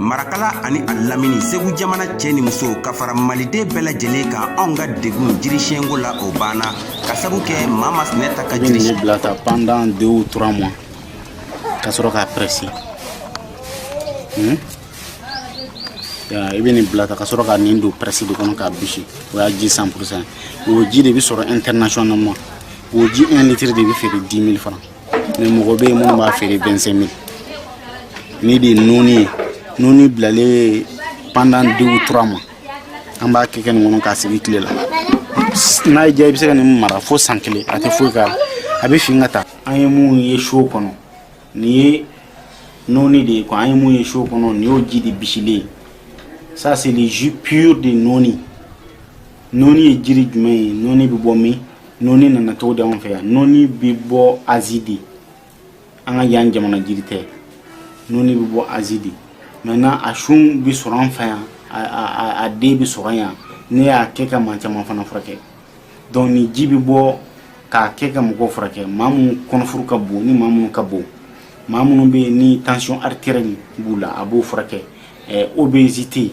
marakala ani a lamini segu jamana cɛ ni muso ka fara maliden bɛɛ lajɛlen kan anw ka degun jirisiyɛnko la o banna ka sabu kɛ maa ma sinɛ ta ka jiri bila ta pendant deux ou trois mois ka sɔrɔ k'a presse hmm? i bɛ nin bila ta ka sɔrɔ ka nin don presse de kɔnɔ k'a bisi o y'a ji 100 pourcent o ji de bɛ sɔrɔ internationalement o ji 1 litre de bɛ feere 10 000 francs ni mɔgɔ bɛ yen minnu b'a feere 25 000 nin de nɔni ye nɔni bilalen pendant deux trois mois an b'a kɛ kɛ nin kɔnɔ k'a sigi tile la n'a y'i diya i bɛ se ka nin mara fo san kelen a tɛ foyi k'a la a bɛ fin ka taa an ye minnu ye so kɔnɔ nin ye nɔni de ye quoi an ye mun ye so kɔnɔ nin y'o ji de bisilen ça c'est le jus pur de nɔni nɔni ye jiri jumɛn ye nɔni bɛ bɔ min Nɔɔni nana cogo di anw fɛ yan nɔɔni bɛ bɔ Asie de an ka yan jamana jiri tɛ nɔɔni bɛ bɔ Asie de maintenant a sun bɛ sɔrɔ an fɛ yan a den bɛ sɔrɔ yan ne y'a kɛ ka maa caman fana furakɛ donc nin ji bɛ bɔ k'a kɛ ka mɔgɔw furakɛ maa minnu kɔnɔfuru ka bon ni maa minnu ka bon maa minnu bɛ yen ni tension artérielle b'u la a b'o furakɛ obésité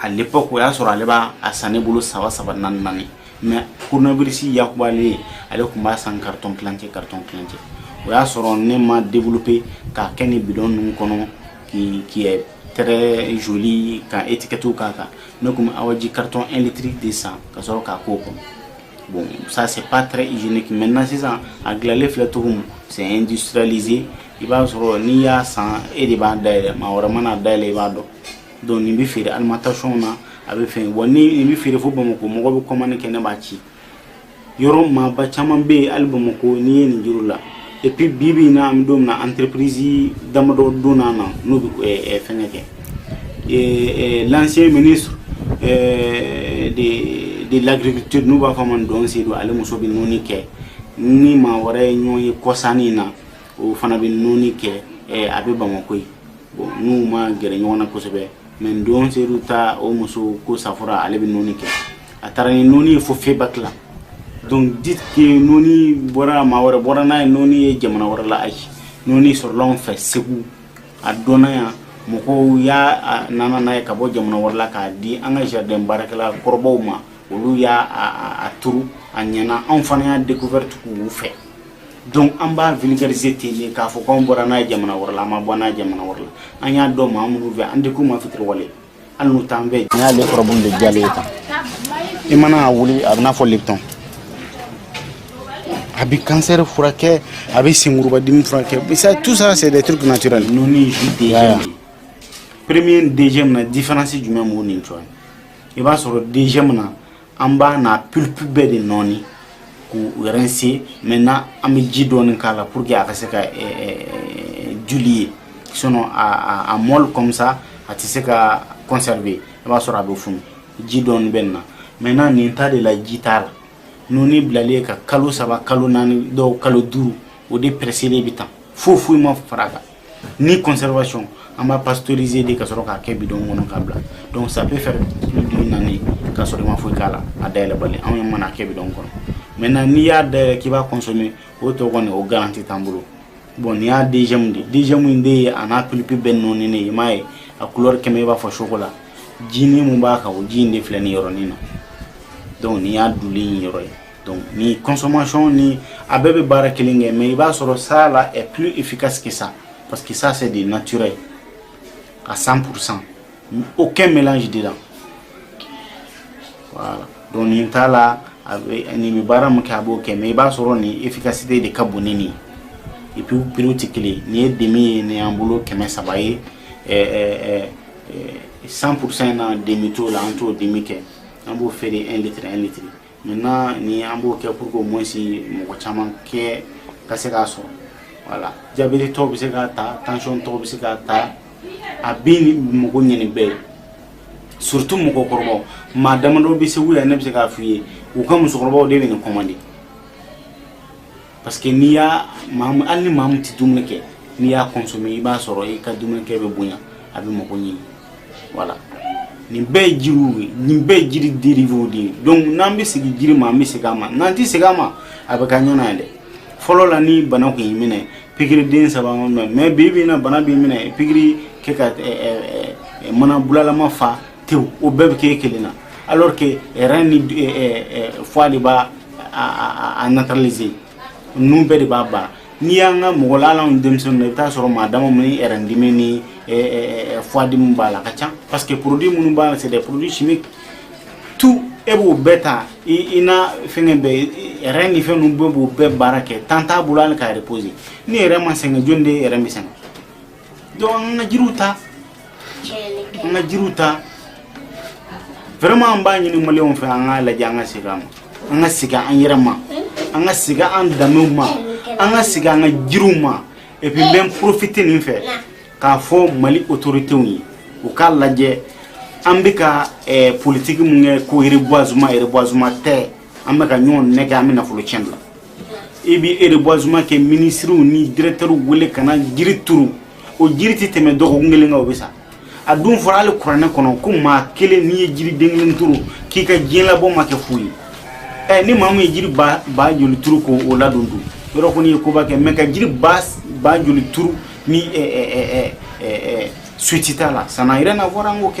à l'époque o y'a sɔrɔ ale b'a a san ne bolo saba saba naani naani mais koronabirisi yakubalen ale tun b'a san karitɔn kilancɛ karitɔn kilancɛ o y'a sɔrɔ ne m'a développer k'a kɛ ni bidɔn ninnu kɔnɔ qui qui est très jolie ka étiquette k'a kan ne tun bɛ awaji karitɔn 1 litre de san ka sɔrɔ k'a k'o kɔnɔ bon ça c'est pas très hygiénique maintenant sisan a dilanlen filɛ cogo min c'est industrialisé i b'a sɔrɔ n'i y'a san e de b'a dayɛlɛ maa wɛrɛ man'a dayɛlɛ i b'a dɔn Donc nin bɛ feere alimentation na a bɛ fɛ wa nin bɛ feere fo bamakɔ mɔgɔ bɛ commande kɛ ne b'a ci yɔrɔ maaba caman bɛ ali bamakɔ n'i ye nin juru la ep bibi na an donna entreprise damadɔ donna n'u bɛ fɛn kɛ se de lagkitu n'u b'a fɔ madu sedu ale muso bɛ nɔɔni kɛ ni maa wɛrɛ ye ɲɔgɔn ye kɔsa nin na o fana bɛ nɔɔni kɛ a bɛ bamakɔ yen bon n'u ma gɛrɛ ɲɔgɔn na kosɛbɛ madu sedu ta o muso ko safura ale bɛ nɔɔni kɛ a taara ni nɔɔni ye fo FEBAK la donc dire que nɔɔni bɔra maa wɛrɛ bɔra n'a ye nɔɔni ye jamana wɛrɛ la ayi nɔɔni sɔrɔla anw fɛ segu a dɔnna yan mɔgɔw y'a nana n'a ye ka bɔ jamana wɛrɛ la k'a di an ka jardin baarakɛla kɔrɔbaw ma olu y'a a turu a ɲɛna anw fana y'a découverte k'u fɛ donc an b'a vulgariser ten de k'a fɔ k'anw bɔra n'a ye jamana wɛrɛ la an ma bɔ n'a ye jamana wɛrɛ la an y'a dɔn maa minnu fɛ an tɛ k'u ma fitiriwale hali n'u t'an fɛ n'i y'ale furabulu de jalen ye tan i mana a wuli a bɛ n'a fɔ lipton a bɛ kansɛri furakɛ a bɛ senkurubadimi furakɛ ça tout ça c'est des trucs naturels nɔni ji deuxième premier ni deuxième na différence jumɛn b'u ni ɲɔgɔn cɛ i b'a sɔrɔ deuxième na an b'a n'a pulpe bɛɛ de nɔɔni k'u rincer maintenant an bɛ ji dɔɔni k'a la pour que a ka se ka diluer sinon a a molle comme ça a tɛ se ka conserver i b'a sɔrɔ a bɛ funu ji dɔɔni bɛ nin na maintenant nin ta de la ji t'a la nɔni bilalen ye ka kalo saba kalo naani dɔw kalo duuru o de presselen bɛ tan foyi foyi ma fara a kan ni conservation an b'a pasteuriser de ka sɔrɔ k'a kɛ bidon kɔnɔ k'a bila donc ça peut faire plus d'une année ka sɔrɔ i ma foyi k'a la a dayɛlɛbali anw ye mana kɛ bidon kɔnɔ maintenant n'i y'a dayɛlɛ k'i b'a consommer o tɔ kɔni o garanti t'an bolo bon nin y'a deuxième de deuxième in de ye a n'a pulpe bɛɛ nɔɔninen ye i m'a ye a couleur quand même i b'a fɔ chocolat ji nin min b'a kan o ji in de filɛ nin yɔrɔnin na donc nin y'a dilué yɔrɔ ye Donc ni consommation ni a bɛɛ bɛ baara kelen kɛ mais i b'a sɔrɔ ça là est plus efficace que ça parce que ça c'est du naturel à 100% aucun mélange dedans voilà donc nin t'a la a bɛ nin bɛ baara min kɛ a b'o kɛ mais i b'a sɔrɔ nin efficacité de ka bon ni nin et puis prix tɛ kelen ye nin ye demi ye nin y'an bolo kɛmɛ saba ye ɛɛ ɛɛ ɛɛ 100% na demi t'o la an t'o demi kɛ an b'o feere 1 litre 1 litre Maintenant ni an b'o kɛ pour que au moins mɔgɔ caman kɛ ka se k'a sɔrɔ voilà diabètetɔw bɛ se k'a ta tensiontɔw bɛ se k'a ta a bɛ mako ɲini bɛɛ ye surtout mɔgɔkɔrɔbaw maa damadɔ bɛ Segu yan ne bɛ se k'a f'i ye u ka musokɔrɔbaw de bɛ nin commander parce que n'i y'a hali ni maa min tɛ dumuni kɛ n'i y'a consommer i b'a sɔrɔ i ka dumunikɛ bɛ bonya a bɛ mako ɲini voilà nin bɛɛ ye jiriw ye nin bɛɛ ye jiri derivew de ye donc n'an bɛ segin jiri ma an bɛ segin a ma n'an tɛ segin a ma a bɛ ka ɲɔn na dɛ fɔlɔ la ni bana tun y'i minɛ pikiri den saba b'a minɛ mais bi bi in na bana b'i minɛ pikiri kɛ ka mana bulalama fa tew o bɛɛ bɛ kɛ kelen na alors que rein ni foie de b'a a neutraliser ninnu bɛɛ de b'a ban n'i y'an ka mɔgɔ la alanw denmisɛnnin na i bɛ taa sɔrɔ maa dama minnu rein dimi ni foie dimi b'a la ka ca parce que produit minnu b'a la c'est des produits chimiques tout e b'o bɛɛ ta i na fɛngɛ bɛɛ rein ni fɛn ninnu bɛɛ b'o bɛɛ baara kɛ temps t'a bolo hali ka reposer ni rein ma sɛgɛn jɔni de ye rein bɛ sɛgɛn Dɔnki an ka jiriw ta an ka jiriw ta wɛrɛman an b'a ɲini maliyɛnw fɛ an k'a lajɛ an ka segin an ma an ka segin an yɛrɛ ma an ka segin an danbew ma an ka segin an ka jiriw ma epi n bɛ porofite nin fɛ k'a fɔ mali otoritew ye u k'a lajɛ an bɛ ka politigi min kɛ ko erebwazuma erebwazuma tɛ an bɛ ka ɲɔgɔn nɛgɛ an bɛ nafolo tiɲɛ la i bɛ erebwazuma kɛ minisiriw ni dirɛkitɛriw wele ka na jiri turu o jiri tɛ tɛmɛ dɔgɔkun kelen kan o bɛ sa a dun fɔra hali kuranɛ kɔnɔ ko maa kelen n'i ye jiri den kelen turu k'i ka diɲɛ labɔ ma kɛ fu ye ɛ ni maa min ye jiri ba ba joli turu k'o ladon dun o yɛrɛ kɔni ye koba kɛ mɛ ka jiri ba ba joli turu ni suivi t'a la sanayɛrɛ na fɔra an k'o kɛ